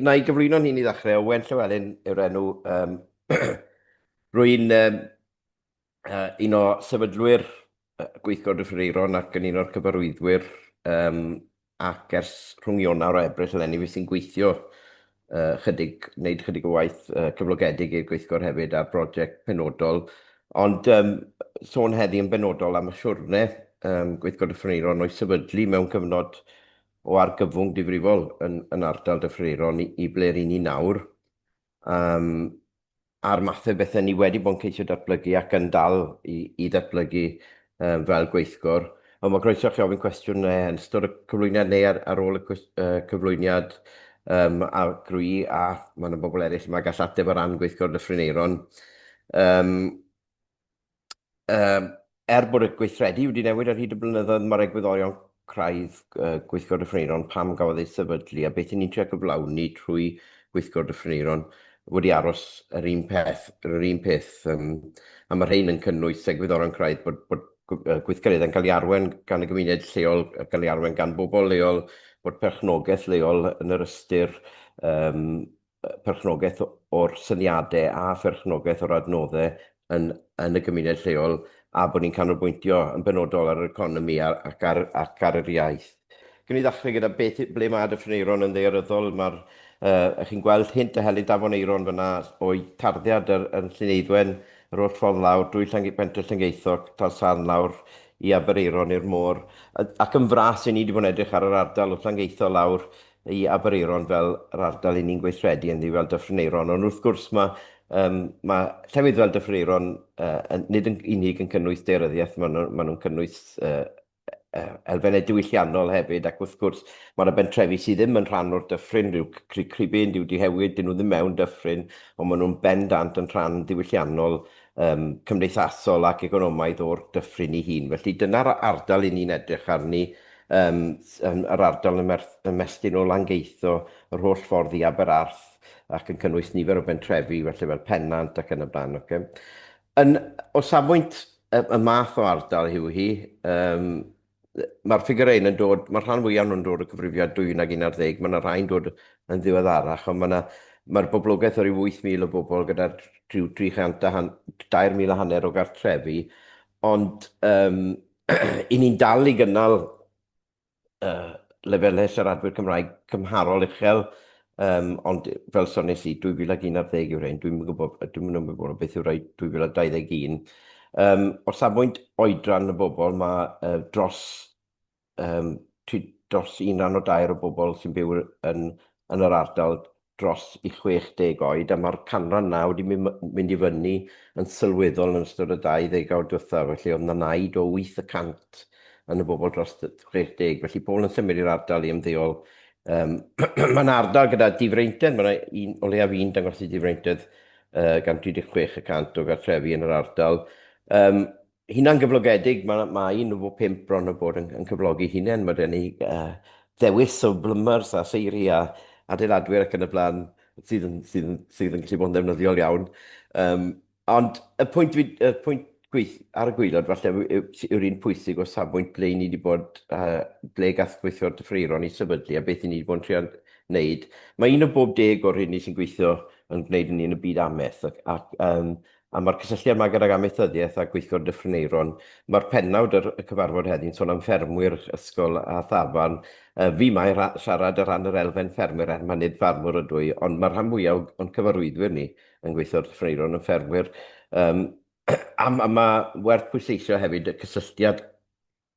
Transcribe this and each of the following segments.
Na i gyflwyno'n hun i ddechrau, Owen Llywelyn yw'r enw. Um, Rwy'n um, uh, un o sefydlwyr gweithgor Dyffryn Eiron ac yn un o'r cyfarwyddwyr um, ac ers rhwng Ionawr a Ebrill eleni fi sy'n gweithio uh, chydig, wneud chydig o waith uh, cyflogedig i'r gweithgor hefyd a'r brosiect penodol. Ond um, sôn heddi yn benodol am y siwrne um, gweithgor Dyffryn Eiron o'i sefydlu mewn cyfnod o argyfwng difrifol yn yn ardal Dyffryn Aeron i ble ry'n ni nawr, yym a'r math o bethe ni wedi bod yn ceisio datblygu ac yn dal i i ddatblygu yym fel gweithgor. Ond ma' groeso chi ofyn cwestiwn ne yn ystod y cyflwyniad neu ar ar ôl y cwis- yy cyflwyniad yym a grwy a ma' 'na bobl eryll 'ma gall ateb o ran gweithgor Dyffryn Aeron. Yym. um, er bod y gweithredu wedi newid ar hyd y blynyddoedd, mae'r egwyddorion craidd uh, gweithgor dyffryneiron pam gafodd ei sefydlu a beth yn ni'n trio gyflawni trwy gweithgor dyffryneiron wedi aros yr un peth, yr un peth. Um, a mae rhain yn cynnwys egwyddorion craidd bod, bod gweithgareddau'n cael ei arwen gan y gymuned lleol, cael ei arwen gan bobl leol, bod perchnogaeth leol yn yr ystyr um, perchnogaeth o'r syniadau a pherchnogaeth o'r adnoddau yn, yn y gymuned lleol a bod ni'n canolbwyntio yn benodol ar yr economi ar, ac, ar, ac ar yr iaith. Gwn i ddechrau gyda beth, ble mae Dyffryn Eiron yn ddearyddol. Mae'r, uh, chi'n gweld hint a helynt afon Eiron fyna o'i tarddiad yr, yn Llyneiddwen, yr holl ffordd lawr drwy Llange, Pentre Llangeithoc, Talsarn lawr i Abereiron i'r môr. Ac yn fras, i ni wedi bod yn edrych ar yr ardal o Llangeitho lawr i Aberaeron fel yr ardal 'yn ni'n gweithredu ynddi fel Dyffryn Aeron, ond wrth gwrs ma' yym ma' llefydd fel Dyffryn Aeron yy yn nid yn unig yn cynnwys daearyddiaeth, ma' nw ma' nw'n cynnwys yy yy elfenne diwylliannol hefyd ac wrth gwrs ma' 'na bentrefi sy ddim yn rhan o'r dyffryn, ryw Crug Cribyn, Diw Dihewyd, 'dyn nw ddim mewn dyffryn, on' ma' nw'n bendant yn rhan ddiwylliannol yym cymdeithasol ac economaidd o'r dyffryn 'i hun. Felly dyna'r ardal 'yn ni'n edrych arni Yym, yn yr ardal ymestyn o Langeitho yr holl ffordd i Aberarth ac yn cynnwys nifer o bentrefi felly fel Pennant ac yn y blaen, ocê. Yn, o safbwynt y, y math o ardal yw hi, yym, mae'r ffigurau hyn yn dod, mae'r rhan fwyaf nhw'n dod o cyfrifiad 12 ac 11, mae yna rhai'n dod yn ddiweddarach, ond mae yna, mae'r boblogaeth o ryw 8,000 o bobl gyda rhyw 300 a han, 2,000 a hanner o gartrefi, ond yym, i ni'n dal i gynnal uh, lefelau siaradwyr Cymraeg cymharol uchel, um, ond fel sones i, 2011 yw'r ein, dwi'n gwybod, dwi'n mynd gwybod beth yw'r rhaid 2021. Um, o safbwynt oedran y bobl, mae uh, dros, um, dros un rhan o dair o bobl sy'n byw yn, yn yr ardal dros i 60 oed a mae'r canran naw wedi mynd i fyny yn sylweddol yn ystod y dau ddegawd diwethaf, felly oedd 'na naid o wyth y cant yn y bobl dros 60, felly pobl yn symud i'r ardal i ymddeol. Yym mae 'na ardal gyda difreintiad, mae 'na un o leiaf un dangos i difreintiad yy gan 36 y cant o gartrefi yn yr ardal. Yym Hunan gyflogedig, mae, mae un o pump bron o bod yn, yn cyflogi hunain. Mae gen i uh, ddewis o blymars a seiri a adeiladwyr ac yn y blaen sydd yn, sydd yn, sydd yn gallu bod yn ddefnyddiol iawn. Um, ond y pwynt, y pwynt gweith, ar y gwylod falle yw'r un pwysig o safbwynt ble ni wedi bod, uh, ble gath gweithio'r dyffreiron i sefydlu a beth i ni wedi bod yn trio wneud. Mae un o bob deg o'r hyn ni sy'n gweithio yn gwneud yn un y byd ameth ac, ac um, Am y cysylltiad yma gydag amaethyddiaeth a gweithgor Dyffryn Aeron, mae'r pennawd yr y cyfarfod heddiw'n sôn am ffermwyr, ysgol a thafarn. Yy fi 'ma i ra- siarad ar ran yr elfen ffermwyr er mai nid ffarmwr ydw i, ond mae'r rhan fwyaf o- o'n cyfarwyddwyr ni yn gweithio ar Dyffryn Aeron yn ffermwyr. Yym a ma' ma' werth pwysleisio hefyd y cysylltiad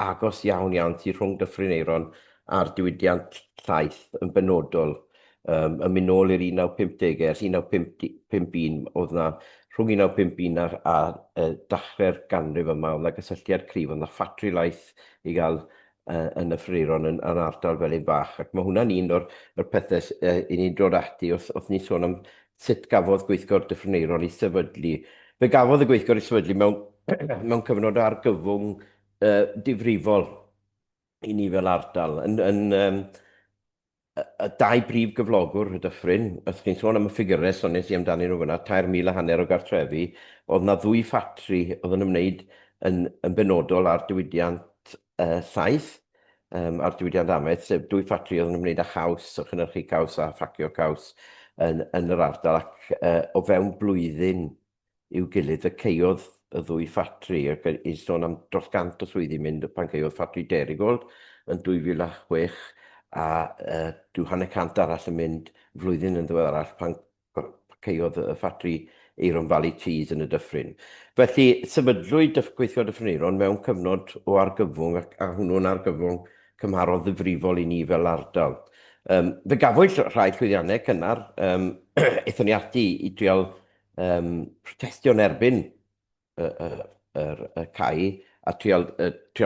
agos iawn iawn tu rhwng Dyffryn Aeron a'r diwydiant llaeth yn benodol. Um, yn mynd nôl i'r 1950au, ers 1951, oedd yna rhwng 1951 a'r, a uh, dachrau'r ganrif yma, oedd yna gysylltiad cryf, oedd yna ffatri laeth i gael uh, yn y ffriron yn, yn ardal fel un bach. Ac mae hwnna'n un o'r, o'r pethau uh, i ni'n dod ati wrth, wrth ni sôn am Sut gafodd Gweithgor Dyffryn Aeron ei sefydlu? Fe gafodd y Gweithgor ei sefydlu mewn mewn cyfnod o argyfwng uh, difrifol i ni fel ardal. Yn, yn, um, y dau brif gyflogwr y dyffryn, os chi'n sôn am y ffigurau sones i amdanyn nhw fyna, 3,000 a hanner o gartrefi, oedd yna ddwy ffatri oedd yn ymwneud yn, yn benodol â'r diwydiant saith um, a'r diwydiant amaeth, sef dwy ffatri oedd yn ymwneud â chaws, o chynhyrchu caws a ffacio caws yn, yn yr ardal, ac uh, o fewn blwyddyn i'w gilydd y ceiodd y ddwy ffatri, ac i sôn am dros gant o swyddi mynd pan ceiodd ffatri Derigold yn 2006, a uh, dwi hanner cant arall yn mynd flwyddyn yn ddiwedd arall pan Parciodd y ffatri Aeron Valley Teas yn y dyffryn. Felly, sefydlwyd Dyff Gweithio Dyffryn Aeron mewn cyfnod o argyfwng ac a hwnnw'n argyfwng cymharol ddifrifol i ni fel ardal. Yym, fe gafwyd rhai llwyddiannau cynnar. Yym, aethon ni ati i drial yym protestio yn erbyn y cae a trial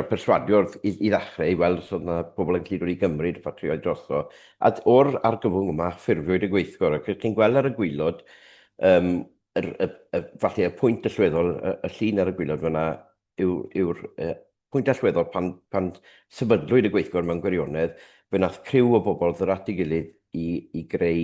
perswadio i ddechrau i weld os oedd yna pobl yn gallu dod i gymryd y ffatrïoedd drosto. A o'r argyfwng yma, ffurfiwyd y gweithgor. Ac chi'n gweld ar y gwylod, falle y pwynt allweddol, y llun ar y gwylod fyna, yw'r Pwynt allweddol pan pan sefydlwyd y gweithgor mewn gwirionedd, fe wnaeth criw o bobl ddod at ei gilydd i i greu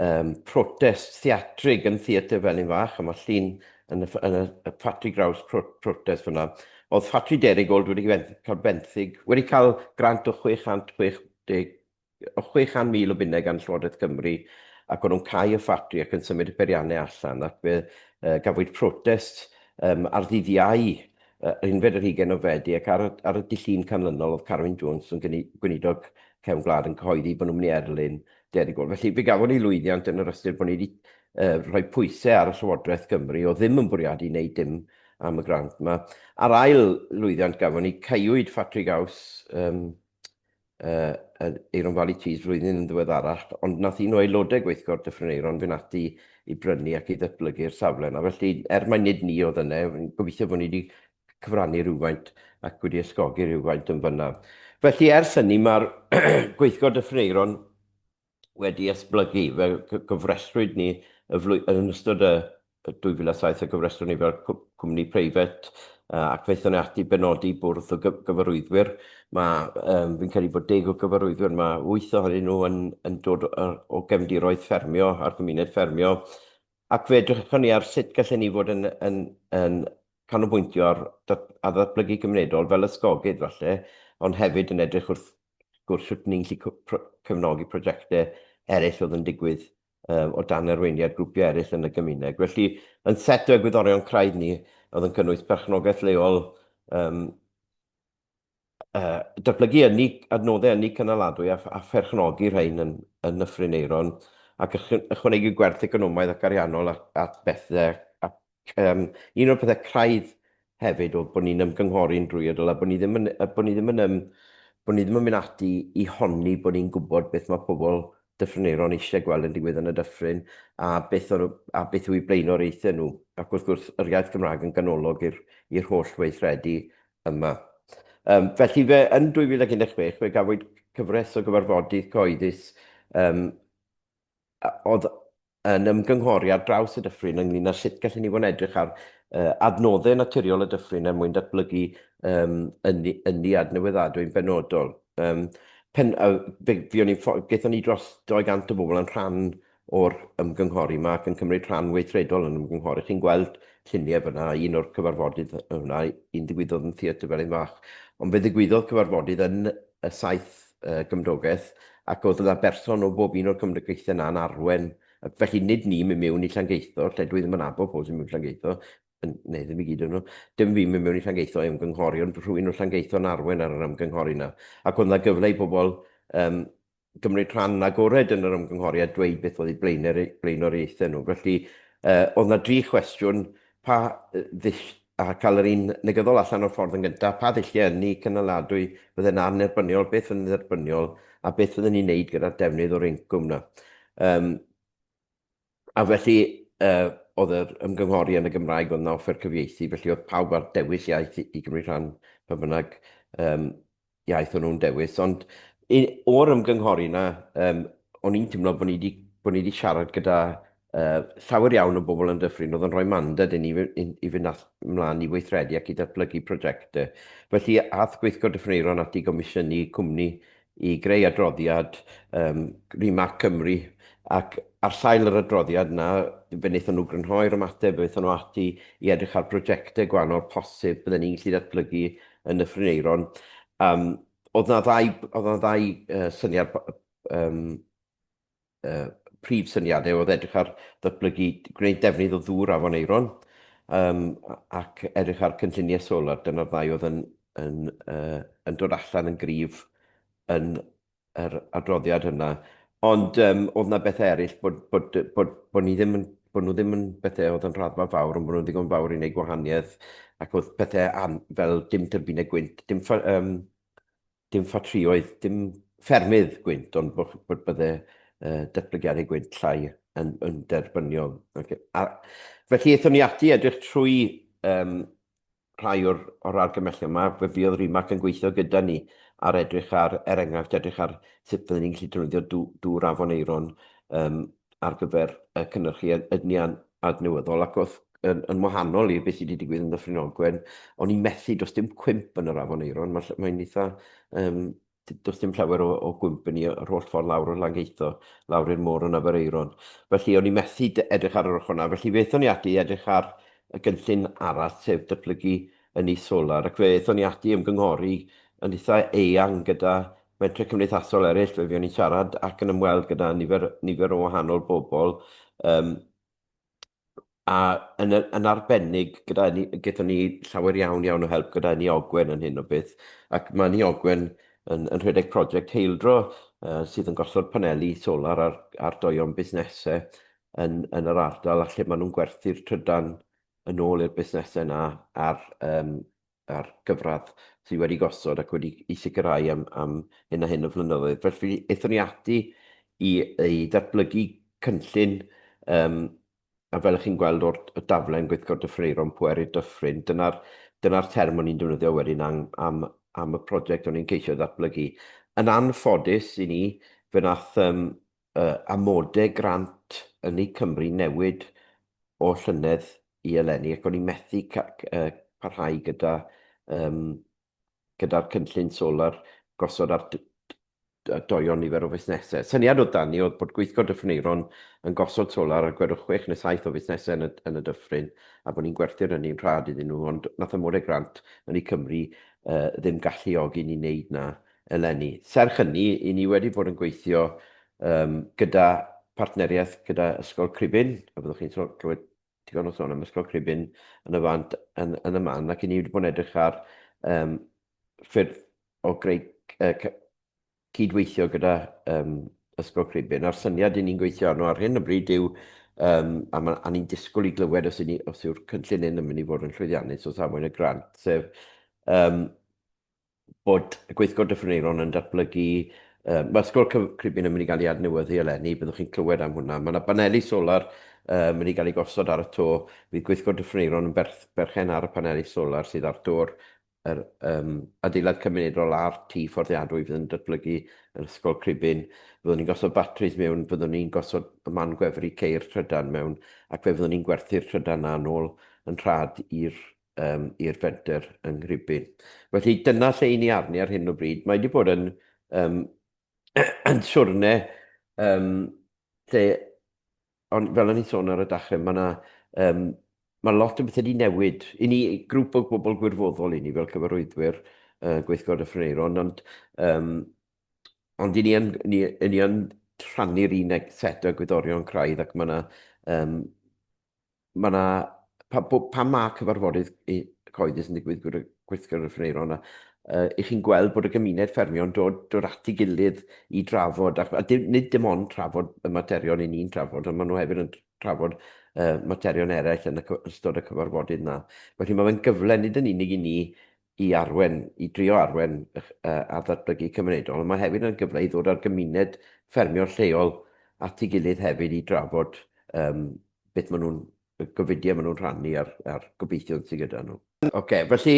um, protest theatrig yn Theatr Felin Fach, a mae llun yn y, yn y, y Ffatri Graws pro, protest fyna. Oedd Ffatri Derrygold wedi cael benthyg, wedi cael grant o 660 o 600,000 o bunnau gan Llywodraeth Cymru ac o'n nhw'n cau y ffatri ac yn symud y peiriannau allan ac fe uh, gafwyd protest um, ar ddydd Iau uh, unfed yr hugain o Fedi ac ar, ar y dillun canlynol oedd Carwyn Jones yn gweinidog cefn gwlad yn cyhoeddi bod nhw'n mynd i erlyn derig gol. Felly fe gafon ni lwyddiant yn yr ystyr bod ni wedi uh, rhoi pwysau ar y Llywodraeth Gymru o ddim yn bwriadu wneud dim am y grant yma. A'r ail lwyddiant gafon ni caewyd ffatri gaws um, uh, Aeron Valley Tees flwyddyn yn ddiweddarach, ond nath un o aelodau gweithgor Dyffryn Aeron fynd ati i brynu ac i ddatblygu'r safle yna. Felly, er mae nid ni oedd yna, gobeithio bod ni wedi cyfrannu rhywfaint ac wedi ysgogi rhywfaint yn fyna. Felly, ers hynny, mae'r gweithgor Dyffryn Aeron wedi esblygu. Fe gofrestrwyd ni y flwy-... Yn ystod y 2007, fe gofrestrwyd ni fel cwmni preifat, ac fe aethon ni ati i benodi bwrdd o gyfarwyddwyr. Fi'n credu bod deg o gyfarwyddwyr 'ma, wyth ohonyn nhw yn dod o gefndiroedd ffermio a'r gymuned ffermio. Ac fe edrychon ni ar sut gallen ni fod yn canolbwyntio ar ddatblygu cymunedol fel ysgogydd falle, ond hefyd yn edrych wrth wrth gwrs, sut ni'n gallu cefnogi prosiectau eraill oedd yn digwydd um, o dan arweiniad grwpiau eraill yn y gymuned. Felly, yn set o egwyddorion craidd ni, oedd yn cynnwys perchnogaeth leol, um, uh, datblygu ynni, adnoddau ynni cynaladwy a, a pherchnogi rhain yn, yn Nyffryn Eiron, ac ychwanegu gwerth economaidd ac ariannol at, at bethau ac Yym, un o'r pethau craidd hefyd oedd bod ni'n ymgynghori'n drwyadl a bod ni ddim yn, a bod ni ddim yn, yym, bod ni ddim yn mynd ati i honni bod ni'n gwybod beth mae pobl Dyffryn-Aeron eisiau gweld yn digwydd yn y dyffryn a beth, o'r, a beth yw eu blaenoriaethau nhw. Ac wrth gwrs, yr iaith Gymraeg yn ganolog i'r, i'r holl weithredu yma. Um, felly fe, yn 2016, fe gafwyd cyfres o gyfarfodydd cyhoeddus um, oedd yn ymgynghori ar draws y dyffryn ynglyn â sut gallen ni fod yn edrych ar uh, adnoddau naturiol y dyffryn er mwyn datblygu um, ynni, ynni adnewyddadwy'n benodol. Um, pen, uh, fe, fi o'n i'n ni dros 200 o bobl yn rhan o'r ymgynghori yma ac yn cymryd rhan weithredol yn ymgynghori. Chi'n gweld lluniau fyna, un o'r cyfarfodydd yna, un digwyddodd yn Theatr Felin Fach. Ond fe ddigwyddodd cyfarfodydd yn y saith y gymdogaeth, ac oedd yna berson o bob un o'r cymdogaethau yna yn arwen. Felly, nid ni'n mynd mewn i Llangeitho, lle dwi ddim yn abod pobl sy'n mynd i Llangeitho, neu ddim i gyd o'n nhw, dim fi'n mynd mewn i Llangeitho i ymgynghori, ond rhywun o Llangeitho yn arwen ar yr ymgynghori yna. Ac oedd yna gyfle i bobl um, gymryd rhan yn agored yn yr ymgynghori a dweud beth oedd eu blaenoriaethau nhw. Felly, uh, oedd yna dri chwestiwn, pa a cael yr un negyddol allan o'r ffordd yn gyntaf, pa ddulliau ynni cynaladwy fydde'n annherbyniol, beth fydde'n dderbyniol, a beth fydden ni'n neud gyda'r defnydd o'r incwm yna. Um, a felly, uh, oedd yr ymgynghori yn y Gymraeg, oedd yna offer cyfieithu, felly oedd pawb ar dewis iaith i, i gymryd rhan pan bynnag um, iaith o'n nhw'n dewis, ond i, o'r ymgynghori yna, um, o'n i'n teimlo bod ni wedi bod ni wedi siarad gyda uh, llawer iawn o bobl yn dyffryn oedd yn rhoi mandad i ni i, i fynd at, ymlaen i weithredu ac i ddatblygu prosiectau. Felly, ath gweithgor dyffryneiron at i gomisiynu cwmni i greu adroddiad um, Rimac Cymru ac ar sail yr adroddiad yna, fe wnaethon nhw grynhoi'r ymateb, fe wnaethon nhw ati i edrych ar brosiectau gwahanol posib bydden ni'n gallu datblygu yn Nyffryn Aeron, um, oedd na ddau, oedd na ddau uh, syniad, um, uh, prif syniadau oedd edrych ar ddatblygu, gwneud defnydd o ddŵr afon Aeron, um, ac edrych ar cynlluniau solar, dyna'r ddau oedd yn, yn, uh, yn dod allan yn gryf yn yr adroddiad hynna. Ond um, oedd yna bethau eraill bod, bod, bod, bod, ni ddim yn, bod nhw ddim yn bethau oedd yn rhaddfa fawr, ond bod nhw'n ddigon fawr i wneud gwahaniaeth, ac oedd pethau an, fel dim tyrbinau gwynt, dim, ffa, um, dim ffatrioedd, dim ffermydd gwynt, ond bod, bod byddai uh, datblygiadau gwynt llai yn, yn derbyniol. Okay. A, felly, eithon ni ati edrych trwy um, rhai o'r o'r argymhellion 'ma, fe fuodd Rimac yn gweithio gyda ni ar edrych ar, er enghraifft, edrych ar sut fydden ni'n gallu defnyddio dŵ, dŵr afon Aeron um, ar gyfer uh, cynnyrchu ydni adnewyddol, ac wrth yn, yn wahanol i beth sydd wedi digwydd yn Ddyffryn Ogwen, o'n i'n methu, does dim cwymp yn yr afon Aeron, mae'n mae eitha um, Does dim llawer o, o gwmpani yr holl ffordd lawr o Langeitho, lawr i'r môr yn Aberaeron. Felly, o'n i methu edrych ar yr ochr yna. Felly, fe ethon ni ati i edrych ar y gynllun arall, sef datblygu y nis solar, ac fe ethon ni ati i ymgynghori yn eitha eang gyda mentre cymdeithasol eraill, fe fuon ni'n siarad ac yn ymweld gyda nifer, nifer o wahanol bobl, um, a yn, yn arbennig gyda ni, gyda ni llawer iawn iawn o help gyda ni Ogwen yn hyn o beth, ac mae ni Ogwen yn, yn rhedeg prosiect heildro uh, sydd yn gosod paneli solar ar, ar doion busnesau yn, yn yr ardal a lle maen nhw'n gwerthu'r trydan yn ôl i'r busnesau yna ar um, a'r gyfradd sydd wedi gosod ac wedi ei sicrhau am, am hyn a hyn o flynyddoedd. Felly, eithon ni ati i, i ddatblygu cynllun um, a fel chi'n gweld o'r daflen gweithgor dyffreiron pweru dyffryn, dyna'r dyna term o'n i'n defnyddio wedyn am, am, am y prosiect o'n i'n ceisio ddatblygu. Yn anffodus i ni, fe nath um, y amode grant ynni Cymru newid o llynedd i eleni ac o'n i methu parhau gyda yym gyda'r cynllun solar gosod ar doion nifer o fusnesau. Syniad oedd dan ni oedd bod Gweithgor Dyffryn Aeron yn gosod solar ar gwedwch chwech neu saith o fusnesau yn y yn y dyffryn a bod ni'n gwerthu'r ynni'n rhad iddyn nhw ond nath amode grant ynni Cymru yy ddim galluogi ni wneud na eleni. Serch hynny, i ni wedi bod yn gweithio yym gyda partneriaeth gyda Ysgol Cribyn, a byddwch chi'n sôn clywed digon o sôn am Ysgol Cribyn yn y fan yn yn y man, ac i ni wedi bod yn edrych ar yym ffyrdd o greu uh, cydweithio gyda um, Ysgol Cribyn. A'r syniad i ni'n gweithio arno ar hyn o bryd yw, um, a, ma, a ni'n disgwyl i glywed os, ni, os yw'r cynllun hyn yn mynd i fod yn llwyddiannus o safon y grant, sef um, bod y Gweithgor Dyffryn Aeron yn datblygu, yym, mae'r Ysgol Cyf- Cribyn yn mynd i gael ei adnewyddu eleni, byddwch chi'n clywed am hwnna. Mae yna baneli solar yn mynd i gael ei gosod ar y to. Bydd Gweithgor Dyffryn Aeron yn berth- berchen ar y paneli solar sydd ar do'r yr, yym, adeilad cymunedol a'r tŷ fforddiadwy fydd yn datblygu yn Ysgol Cribyn. Fyddwn ni'n gosod batris mewn, fyddwn ni'n gosod y man gwefru ceir trydan mewn ac fe fyddwn ni'n gwerthu'r trydan 'na yn ôl yn rhad i'r um, i'r fenter yng Nghribyn. Felly dyna lle i ni arni ar hyn o bryd. Mae wedi bod yn, um, yn siwrne um, lle, on, fel o'n i'n sôn ar y dachrau, mae yna um, mae lot o bethau wedi newid. I ni, grŵp o bobl gwirfoddol i ni fel cyfarwyddwyr uh, gweithgod y Ffyneiron, ond, um, ond i ni yn, ni, ni yn rhannu'r un set o gwyddorion craidd ac mae yna um, mae yna, pa, pan mae cyfarfodydd cyhoeddus yn digwydd gyda gweithgor y ffynero yna, uh, i chi'n gweld bod y gymuned ffermio yn dod, dod at ei gilydd i drafod, a, a dim, nid dim ond trafod y materion i ni'n trafod, ond maen nhw hefyd yn trafod uh, materion eraill yn y, ystod y cyfarfodydd yna. Felly mae fe'n gyfle nid yn unig i ni i arwain, i drio arwain ar ddatblygu cymunedol, ond mae hefyd yn gyfle i ddod â'r gymuned ffermio lleol at ei gilydd hefyd i drafod um, beth maen nhw'n, y gofidiau maen nhw'n rhannu a'r, ar gobeithion sydd gyda nhw. OK, felly